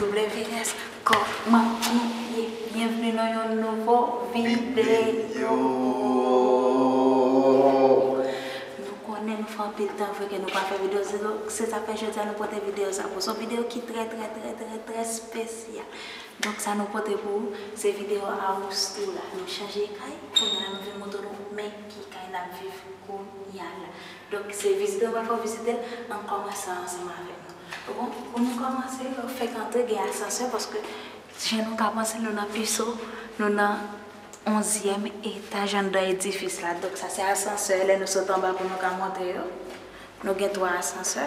WS Koman ou ye? Byenvni nan yon nouvo videyo! Nou konnen nou fè anpil tan vre ke nou pa fè videyo sou nou, se sa fè jodi a nou pote videyo sa pou ou. Se yon videyo ki trè trè trè trè trè spesyal. Donk sa nou pote pou ou, se videyo Amoustou la. Nou chanje kay, kounya nou vin montre nou men ki kay nap viv kounya la. Donk se vizitè ou pa fè w vizitè l, an n kòmanse ansanm avèk nou. Ou bon? Pou nou kòmanse, yo fèk antre, gen asansè paske jan nou ka panse nou nan piso, nou nan onzyèm etaj anndan edifis la. Donk sa se asansè lè nou sot anba pou nou ka monte yo. Nou gen twa asansè.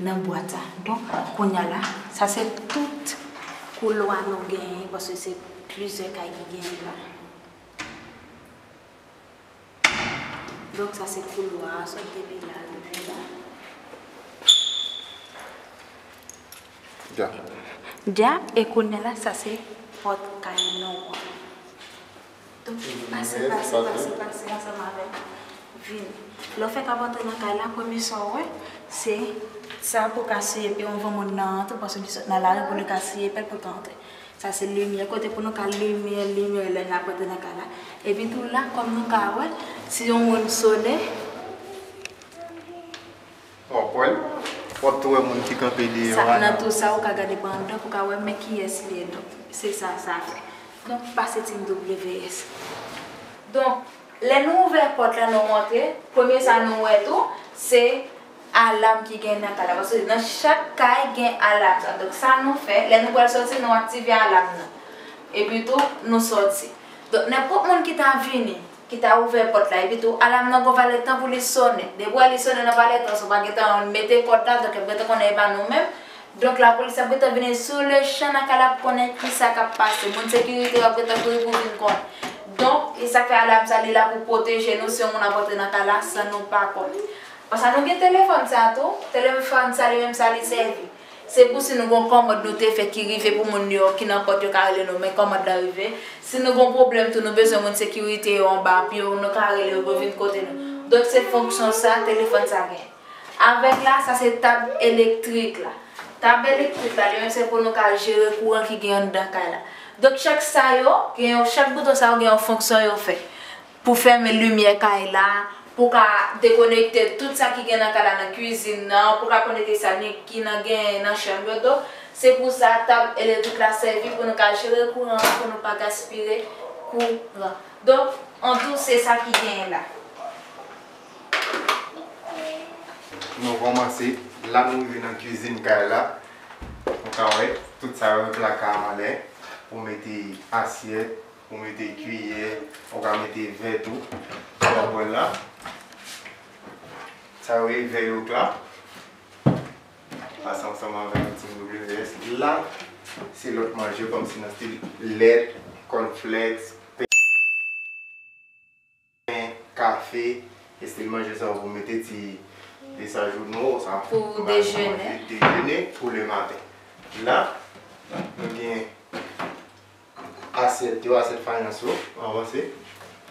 Nan bwat la. Donk, kounya la, sa se tout koulwa nou genyen paske se plizyè kay ki genyen l la. Donk, sa se koulwa a, sot depi la rive la. Dja. Dja, e kounya la, sa se pòt kay nou an. Donk vin pase pase pase pase ansanm avèm vin lèw fèk ap antre nan kay la premye saw wè se sa pouw ka siye pye anvan moun nan antre paske li sot nan lari pou li ka siye pyel poul ka antre sa se limyè kote pou nou ka limyè limyè lè nap antre nan kay la epi tou la kòm nou ka wè si yon moun sone. Wap wè l wap tou wè moun ki kanpe deye yo ana. Nan tou sa ou ka gade pandan pou w ka wè men kiyès li ye donk se sa sa vle. Donk pa se team WS. Donk lè nou ouvè pòt la nou rantre premye sa nou wè tou se alam ki gen nan kay la paske nan chak kay gen alam sa donk sa nou fè lè nou pral sòti nou aktive alam nan epi tou nou sòti donk nenpòt moun ki ta vini ki ta ouvè pòt la epitou alam nan gon valè tan pou li sonnen depi wè li sonnen nan valè tan sa w pa gen tan mete kòd la donk yo ap gen tan konnen e pa nou menm donk lapolis ap gen tan vini sou le chan nan ka l ap konnen kisa k ap pase moun sekirite yo ap gen tan kouri pou vin konn donk e sa k fè alam sa li la pou pwoteje nou si yon moun ap rantre nan ka la san nou pa konn konsa nou gen telefòn sa tou telefòn sa li menm sa li sèvi. Se pou si nou gon kòmand nou te fè ki rive pou moun New York ki nan pòt yo ka rele nou men kòmand lan rive. Si nou gon pwoblèm tou nou bezwen moun sekirite yo anba ap yo nou ka rele yo pou yo vin kote nou. Donk se fonksyon sa telefòn sa gen. Avèk la sa se tab elektrik la. Tab elektrik la li menm se pou nou ka jere kouran ki gen anndan kay la. Donk chak sa yo gen yon chak bouton sa yo gen yon fonksyon yo fè. Pou fèmen limyè kay la, pou ka dekonekte tout sa ki gen nan kay la nan kwizin nan, pou ka konekte sa ni ki nan genyen nan chanm yo donk se pou sa tab elektrik la sèvi pou nou ka jere kouran an pou nou pa gaspire kouran donk an tou se sa ki genyen la. Nou kòmanse la nou rive nan kwizin kay la nou ka wè tout sa yo gen plaka anlè pou mete asyèt. Pou mete kiyè, ou ka mete vè tou nan bòl la. Sa yo ye vè yo pla. Pase ansanm avèk yon ti WS. La, se lòt manje kòmsi nan stil lèt, kòn flèks, pen. Pen, kafe, estil manje sa yo pou mete ti desajouno sa. Pou dejene. Dejene pou le maten. La, nou gen asyèt yo, asyèt fayans yo, avanse.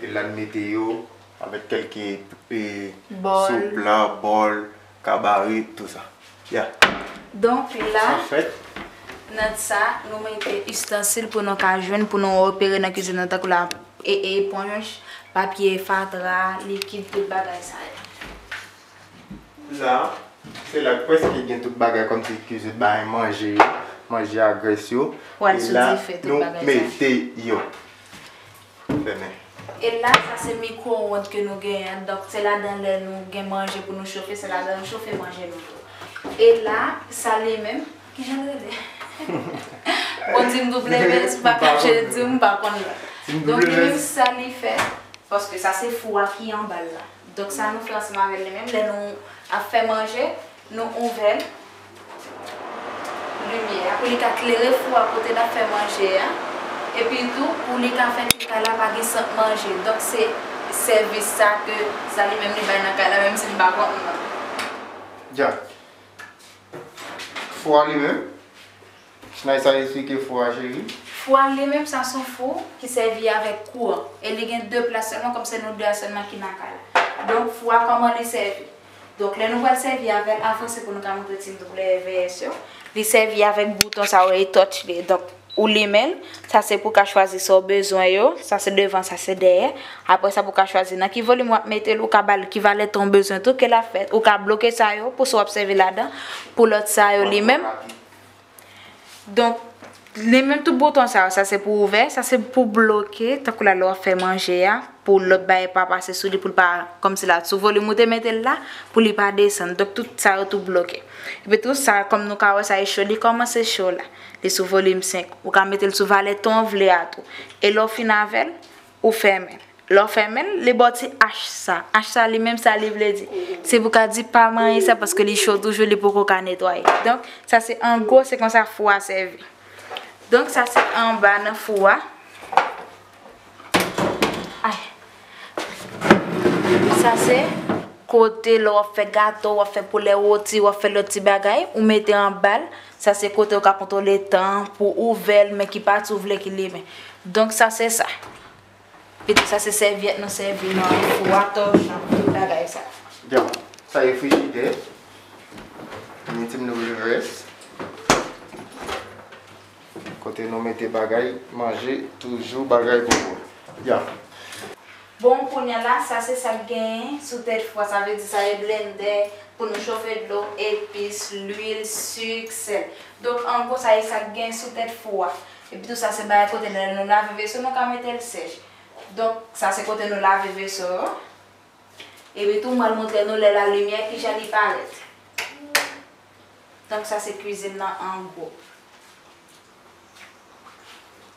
E la n mete yo avèk kèlke sou pla, bòl. Ka bare tou sa. Yeah. Donk la, nan sa, nou mete ustensil pou nou ka jwenn pou nou opere nan kizin nan tankou la, e eponj, papye fatra, likid, tout bagay sa yo. La, se la k preske gen tout bagay kòm si kizin bay manje yo, manje a grès yo. Wè sou dife tout bagay sa yo. E la, nou mete yo. pou demen. E la sa se mikwo-wond ke nou genyen, donk se ladan lè nou gen manje pou nou chofe, se ladan nou chofe manje nou yo. E la sa li menm, ki jan l rele? Bon di m double vez, m pa ka je l di w, m pa konn l. Donk li menm sa li fè, paske sa se fou a ki anba l la. Donk sa nou fè ansanm avè l li menm, lè nou ap fè manje, Nou ouvè limyè a pou li ka klere fou a kote nap fè manje a epi tou pou li ka fè ke kay la pa gen sant manje donk se sèvis sa ke Zali menm li bay nan kay la menm si li pa konn nan. Dyak. Fou a li menm. Chnay sa esplike fou a cheri. Fou a li menm sa son fou ki sèvi avèk kouran e li gen 2 plas sèlman kòm se nou 2 a sèlman ki nan kay la. Donk fou a kòman li sèvi? Donk lè nou pral sèvi avèl avan se pou nou ta montre timoun koulè EVS yo. Li sèvi avèk bouton sa yo e touch li. Donk ou limenl, sa se pou ka chwazi sa ou bezwen yo, sa se devan sa se dèyè. Aprè sa pou ka chwazi nan ki volim wap metel, ou ka bal ki valè tan ou bezwen tou ke lap fè. Ou ka bloke sa yo pou sa wap sèvi ladan, pou lòt sa yo li menm. Donk, li menm tout bouton sa yo, sa se pou ouvè, sa se pou bloke, tankou la lè wap fè manje a, pou lòt bagay pa pase sou li, pou l pa, kòm si la sou volim ou te mete l la, pou li pa desann, donk tout sa yo tou bloke. Epi tou sa, kòm nou ka wè sa e cho, li kòmanse cho la, li sou volim 5, ou ka mete l sou valè ton w vle a tou. E lè w fin avè l. Ou fèmen. Lè w fèmen l, li ba w ti ach sa. Ach sa li menm sa li vle di? Se pou ka di pa manyen sa paske li cho toujou li poko ka netwaye. Donk, sa se an gwo se konsa fou a sèvi. Donk, sa se anba nan fou a. Sa se kote lè w ap fè gato, w ap fè poulè woti, w ap fè lòt ti bagay, ou mete anba l. Sa se kote ou ka kontwole tan an pou ouvè l men ki pati ou vle ki limen. Donk sa se sa. Epi sa se sèvyèt nou sèvi nan fou a, tòchon, tout bagay sa. Donk sa se frijidè. An nou ti nou revès. Kote nou mete bagay manje toujou bagay pou bon. Donk. Bon kounya la sa se sak genyen sou tèt fwa sa vle di sa e blendè pou nou chofe dlo, epis, lwil, suk, sèl. Donk an gwo sa e sak genyen sou tèt fou a. Epi tou sa se bagay kote lè nou lave veso nou ka metel sèch. Donk sa se kote nou lave veso yo. Epi tou mwen montre nou lè la limyè kijan li parèt. Donk sa se kwizin nan an gwo.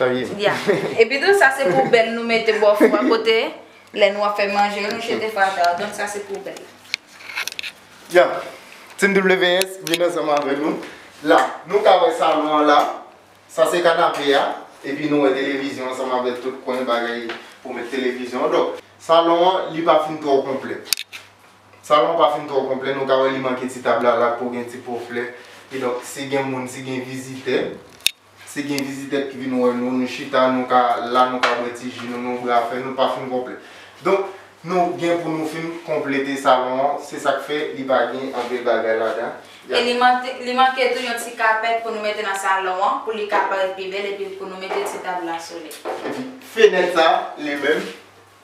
Epitou sa se poubèl nou mete bò fou a kote lè nou ap fè manje nou jete fatra a donk sa se poubèl. Ya Team WS vin ansanm avè nou la nou ka wè salon an la sa se kanape a epi nou wè televizyon ansanm avè tout kwen bagay pou met televizyon donk salon an li pa fin twò konplè salon an pa fin twò konplè nou ka wè li manke ti tab la la pou gen ti po flè kidonk si gen moun si gen vizitè. Si gen vizitè ki vin wè nou, nou chita, nou ka la, nou ka bwè ti ji nou, nou ouvri afè nou, pa fin konplè. Donk, nou gen pou nou fin konplete salon an, se sa k fè li pa gen anpil bagay ladan. E li manke tou yon ti kapèt pou nou mete nan salon an, pou li ka parèt pi bèl epi pou nou mete ti tab la sou li. Epi fenèt sa, li menm.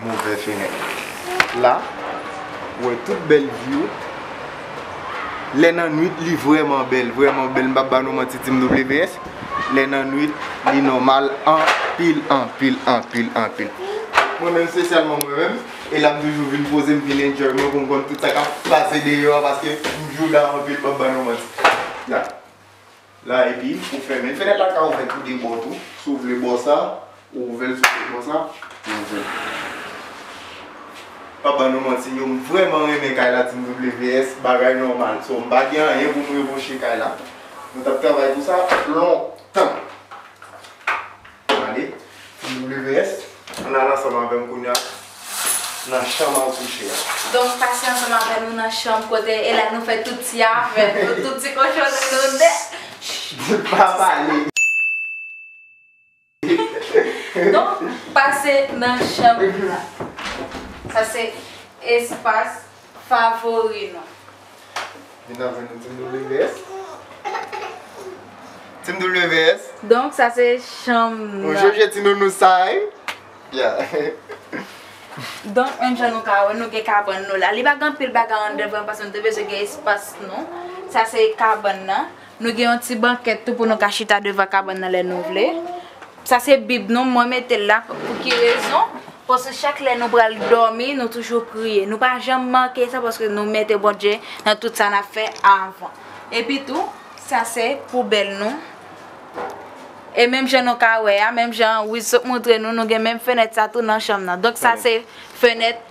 Move fenèt la ou wè tout bèl view lè nan nwit li vrèman bèl vrèman bèl mpap ba nou manti team WPS lè nan nwit li nòmal anpil anpil anpil anpil mwen menm spesyalman mwen menm e la mtoujou vin poze mvin enjoy mwen poum konn tout sa kap pase deyò a paske mjou la anpil mpap ba nou manti. la epi ou fèmen fenèt la ka ouvèt tou de bò tou si w vle bò sa ou ouvè l si w vle bò sa ou ouvè l pap ban nou manti yo m vrèman renmen kay la team WS bagay nòmal so m pa gen anyen pou m reproche kay la mwen t ap travay pou sa lontan. Mande, WS, Ann al ansanm avè m kounye a nan chanm a ou kouche a. Donk, pase ansanm avè nou nan chanm kote e la nou fè tout ti afè nou, tout ti kochonri nou de. Chut! Pa pale! Donk, pase nan chanm la. Sa se espas. Favori nou. Vin avè nou Team WS. Team WS. Donk sa se chanm nan. Ou jèjè ti nounous sa wi. Yeah. Donk menm jan nou ka wè nou gen kabann nou la. Li pa gen anpil bagay andè vre paske nou te bezwen gen espas nou. Sa se kabann nan. Nou gen yon ti bankèt tou pou nou ka chita devan kabann nan lè nou vle. Sa se bib nou mwen metel la pou ki rezon paske chak lè nou pral dòmi nou toujou priye nou pa janm manke sa paske nou mete Bondye nan tout sa nap fè avan epi tou sa se poubèl nou e menm jan nou ka wè a menm jan Wiz sot moutre nou nou gen menm fenèt sa tou nan chanm nan donk sa se fenèt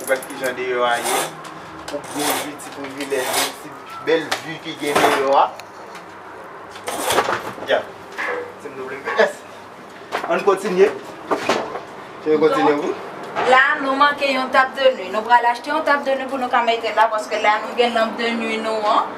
Ou wè ki jan deyò a ye. Ou k byen jwi ti privilèj yo, ti bèl vi ki gen deyò a. Ya! TMWS. An n kontinye. An n kontinye pou. La nou manke yon tab de nwi. Nou pral achte yon tab de nwi pou nou ka mete la paske la nou gen lanp de nwi nou an.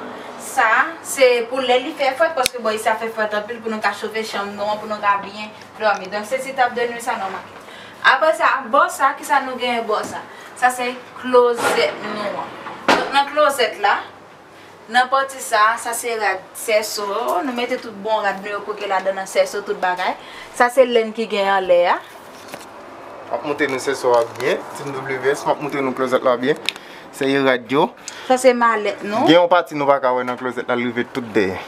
Sa se pou lè li fè frèt paske bò isi a fè frèt anpil pou nou ka chofe chanm nou an pou nou ka byen dòmi. Donk se ti tab de nwi sa nou manke. Apre sa, bò sa, ki sa nou genyen bò sa? Sa se klozèt nou an. Donk nan klozèt la, nan pati sa a, sa se rad sèso yo. Nou mete tout bon rad nou yo kwoke ladan nan sèso tout bagay. Sa se lenn ki gen anlè a. M ap montre nou sèso a byen. Team WS, m ap montre nou klozèt la byen. Seye rad yo. Sa se malèt nou. Gen yon pati nou pa ka wè nan klozèt la li rive tout dèyè.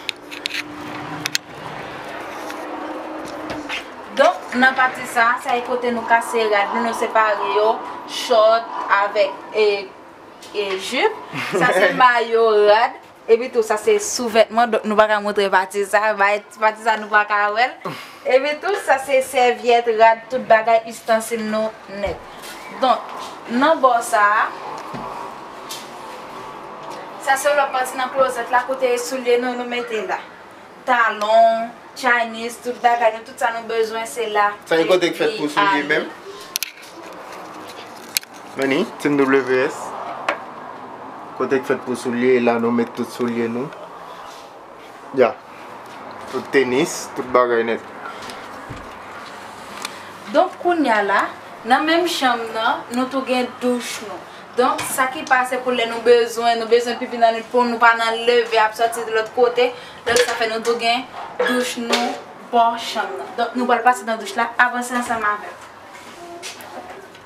Donk nan pati sa a, sa e kote nou kase rad nou, nou separe yo, chòt avèk e jip, sa se mayo, rad, epi tou sa se souvètman, donk nou pa ka montre pati sa a, pati sa a nou pa ka wè l, epi tou sa se sèvyèt, rad, tout bagay istansil nou nèt. Donk, nan bò sa a. Sa se lòt pati nan klozèt la kote soulye nou nou mete la. Talon, Chinese, tout bagay nou, tout sa nou bezwen se la. Sa ki kote ki fèt pou soulye menm? Meni, Team WS. Kote ki fèt pou soulye, e la nou met tout soulye nou. Ya Tout tenis tout bagay nèt. Donk kounya la nan menm chanm nan nou tou gen douch nou donk sa ki pase pou lè nou bezwen nou bezwen pipi nan nwit pou nou pa nan leve ap sòti de lòt kote donk sa fè nou tou gen douch nou bò chanm nan donk nou pral pase nan douch la avanse ansanm avèm.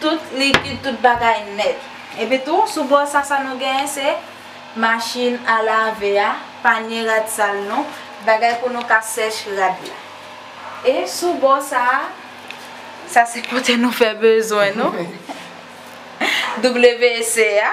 Tout likid, tout bagay nèt. Epi tou, sou bò sa, sa nou genyen se machin a lave a, panye rad sal nou, bagay pou nou ka sèche rad la. E sou bò sa, sa se kote nou fè bezwen nou, WC a.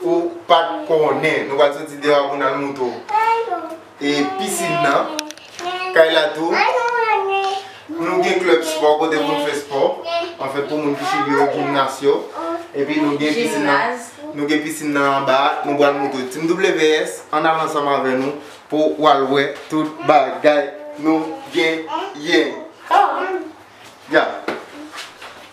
Ou pat konnen nou pral soti deyo pou nal moutre w e piscine nan kay la tou nou gen club sport kote poun fè sport an fèt pou moun ki chili yo gymnas yo epi nou gen piscine nan nou gen piscine nan anba nou pral moutre w team WS an al ansanm avè nou pou wal wè tout bagay nou gen yen.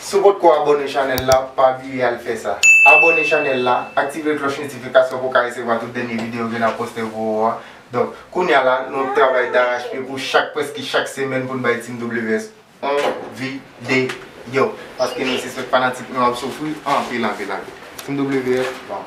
Si w potko abone chanèl la pa bliye al fè sa. Abone chanèl la, aktive klòch notifikasyon pou w ka resevwa tout dènye videyo ke n ap poste pou ou a. Donk, kounya la nou ap travay darachpye pou chak prèske chak semèn pou n bay Team WS on videyo. Paske nou sispèk fanatik nou ap soufri anpil anpil anpil. Team WS bon.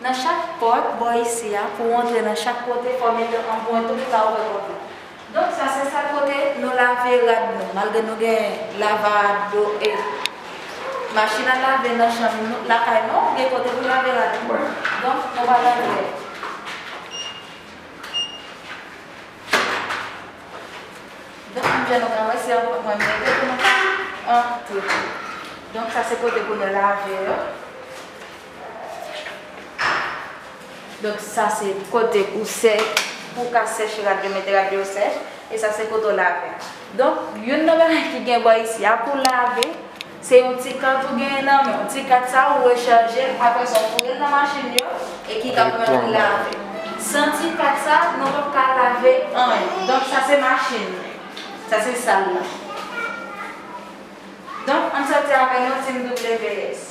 Nan chak pòt, bò isi a, pou w antre nan chak kote fò w mete anpwent ou ki pa ouvè pòt la. Donk sa se sal kote nou lave rad nou, malgre nou gen lava dlo e machin a lave nan chanm nou, lakay nou, gen kote pou lave rad nou. Donk nou pral antre. Donk menm jan nou ka wè se anpwent mwen mete pou nou ka antre. Donk sa se kote pou nou lave yo. Donk sa se kote ou sè pou w ka sèche rad yo mete rad yo sèch e sa se kote w lave. Donk youn nan bagay ki gen bò isi a pou w lave se yon ti kat ou genyen nan men w. Ti kat sa ou rechaje l aprè sa ou foure l nan machin yo e ki ka pèmèt ou lave. San ti kat sa nou pap ka lave anyen. Donk sa se machin nan. Sa se sal la. Donk ann sòti avè yon Team WS.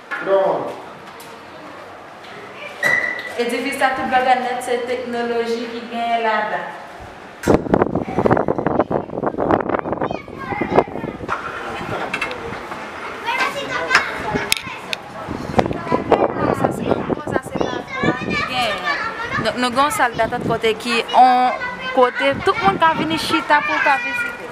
Lord. Edifis la tout bagay nèt se teknoloji ki genyen ladan. Donk nou gen yon sal datant kote ki yon kote tout moun ka vini chita pou ka vizite.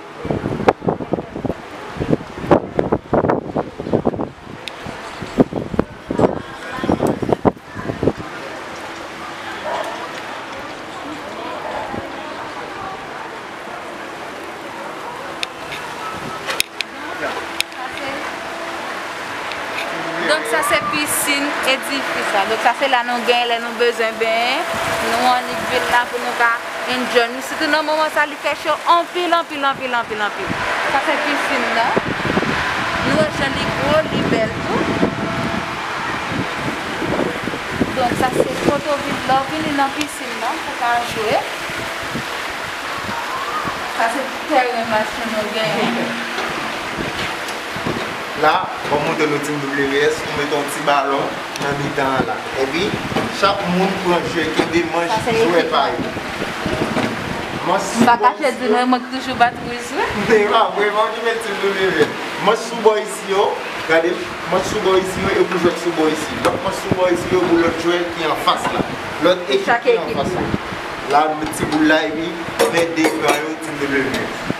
Donk sa se pisin edifis la. Donk sa se la nou genyen lè nou bezwen benyen. Nou annik vin la pou nou ka. Enjoy nou sitou nan moman sa li fè cho anpil anpil anpil anpil anpil. Sa se piscine nan. Nou wè jan li gwo, li bèl tou. Donk sa se foto vin lè w vini nan piscine nan pou ka jwe. Sa se ti tèren basket nou genyen. La, wap montre nou team WS, ou mete yon ti balon. nan mitan an la. Epi, chak moun pran jwe, kenbe manch jwè pa yo. Manch sou bò isi yo. E pa vre, manch ki met toujou leve. Manch sou bò isi yo, gade, manch sou bò isi yo, yo pou jwèt sou bò isi. Lòt manch sou bò isi yo pou lòt jwè ki an fas la. Lòt ekip ki an fas la. La, met ti boul la epi, men de ekran yo toujou leve.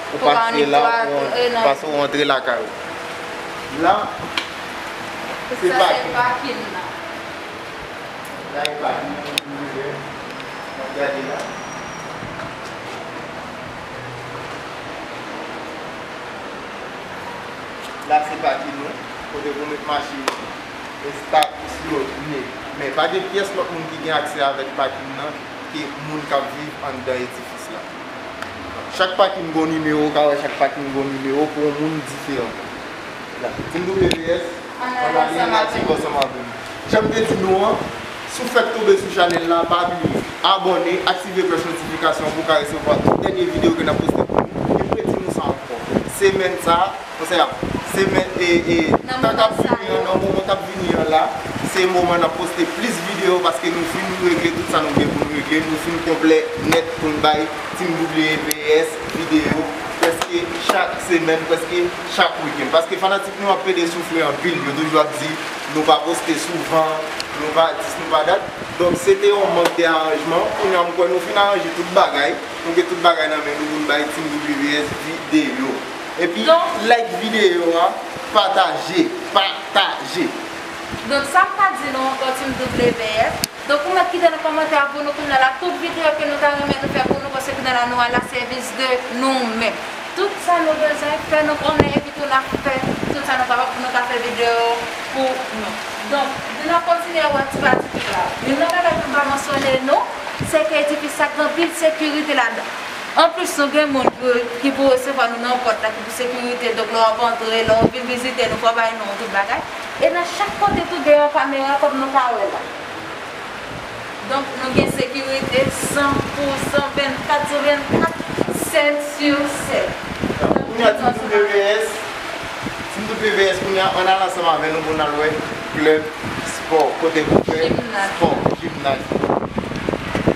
Ou pa antre la paske ou antre lakay ou. La se pakin nan. La e pakin nan pou nou wè. N ap gade la. La se pakin nou. Kote pou met machin nou. Estatis yo ye. Men pa gen pyès lòt moun ki gen aksè avèk pakin nan ke moun k ap viv anndan edifis. Tèks la. Chak pati m gon nimewo, ou ka wè chak pati m gon nimewo pou yon moun diferan. La. Ti m double VS, Anale an atik ansanm avè m. Jan m te di nou an, si w fèk tonbe sou chanèl la, pa bliye, abòne, aktive klòch notifikasyon pou w ka resevwa tout dènye videyo ke n ap poste pou nou, epi redi nou sa ankò, semèn sa a, Konsèy ap se men e e tan kap vini an nan moman kap vini an la se moman nap poste plis video paske nou fin regle tout sa nou gen pou nou regle nou fin konplè nèt pou nou bay team WBS video prèske chak semèn prèske chak weekend paske fanatik nou ap pede soufri anpil yo toujou ap di nou pa poste souvan nou pa dis nou pa dat donk se te yon mank de aranjman kounye a m kwè nou fin aranje tout bagay nou gen tout bagay nan men nou pou nou bay team WBS video. Epi like video a pataje pataje. Donk sam ta di nou ankò team WF. Donk ou mèt kite nan kòmantè a pou nou kounye la tout video ke nou ta renmen nou fè pou nou paske kounye la nou a la sèvis de nou menm. Tout sa nou bezwen fè nou konnen epi tou nap fè tout sa nou kapab pou nou ka fè video pou nou. Donk di nap kontinye ap wè ti pa ti tout la. Youn nan bagay poum pa mansyone nou se ke edifis sa gen anpil sekirite ladan. Anplis nou gen moun ki pou resevwa nou nan pòt la ki pou sekirite donk lè wap antre, lè ou vin vizite nou fò bay non tout bagay e nan chak kote tou gen yon kamera kòm nou ka wè la donk nou gen sekirite san pou san 24 sou 24 7 sur 7 nan tout zòn sa nou ka wè. Team WS kounye a ann al ansanm avè nou pou n al wè club sport kote pou fè sport, gymnase.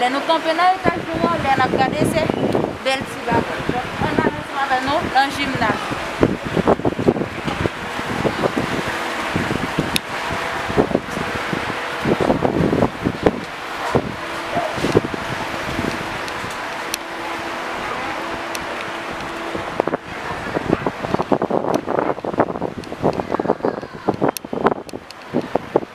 Lè nou kanpe nan etaj nou an, lè n ap gade se bèl ti bagay. Donk, an n al ansanm avè nou nan jimnaz la.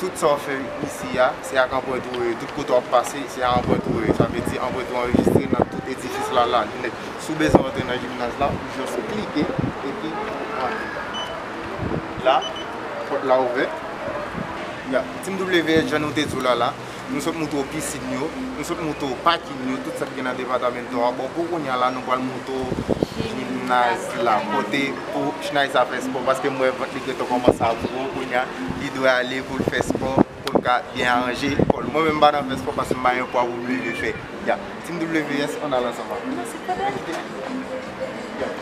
tout sa w fè isi a, se ak anprent ou ye, tout kote w ap pase, se a anprent ou ye. Sa vle di anprent ou anrejistre nan tout edifis la la nèt. Si w bezwen antre nan jimnaz la, ou jis klike epi ou antre. La, pòt la ouvè. Ya, teamWH jan nou te di w la la. Nou sot moute opisin yo, nou sot moute o pakin yo, tout sa ki gen nan departamento a. Bon pou kounya la nou pwal moute o jimnaz la kote pou chnay sa fè spò paske m wè vant li gentan kòmanse ap gwo kounya li dwe ale pou l fè spò pou l ka byen aranje kò l. Mwen menm m pa nan fè spò paske m pa gen pwa pou m leve fè. Team WS ann al ansanm avèm. Nan se kote li ye.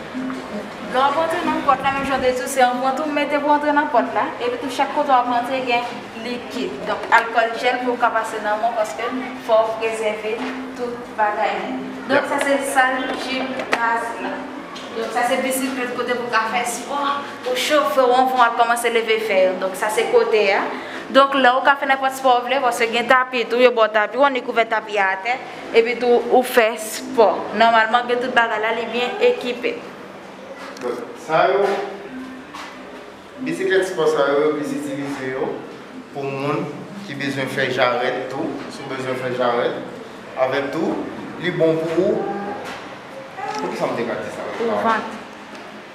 Lè w ap antre nan pòt la menm jan w te di tou se yon pant ou mete pou w antre nan pòt la epi tou chak kote w ap antre gen likid donk alkòl jèl pou w ka pase nan menw paske fò w prezève tout bagay li. Donk sa se sal jimnaz la. Donk sa se bisiklèt kote pou w ka fè spò. Ou cho fre won fon wap komanse leve fè yo donk sa se kote a donk lè ou ka fè nenpòt spò ou vle paske gen tapi tou yo baw tapi ou annik kouvè tapi a atè epi tou ou fè spò nòmalman gen tout bagay la li byen ekipe. Donk sa yo bisiklèt spò sa yo yo plis itilize yo pou moun ki bezwen fè jarèt tou si w bezwen fè jarèt avèk tou li bon pou poukisa m te ka di sa pou vant.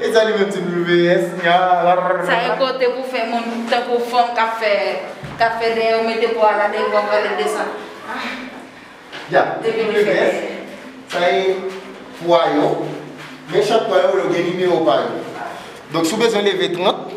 E sa li menm ti WS nyarr. Sa e kote pou fè moun tankou fanm kap fè kap fè dèyè ou mete bwa la devan vale desann ahh depi li fè dèyè. Sa e pwa yo men chak pwa yo gen nimewo pa yo donk si w bezwen leve 30.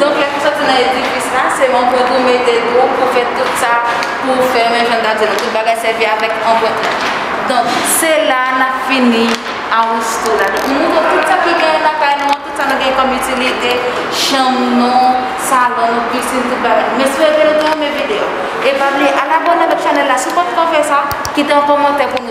Donk lè pou sòti nan edifis la, se yon pwent ou mete dwòp pou fè tout sa pou ou fè men jan ta di nou tout bagay sèvi avèk yon pwent la. Donk se la a nap fini aristo la. Donk nou montre tout sa ki genyen nan kay nou an, tout sa nou genyen kòm itilite, chanm nou, salon nou, pisin tout bagay nou. Mesi epi nou te renmen videyo. E pa bliye al abòne avèk chanèl la si ou pa t ko fè sa, kite yon kòmantè pou nou.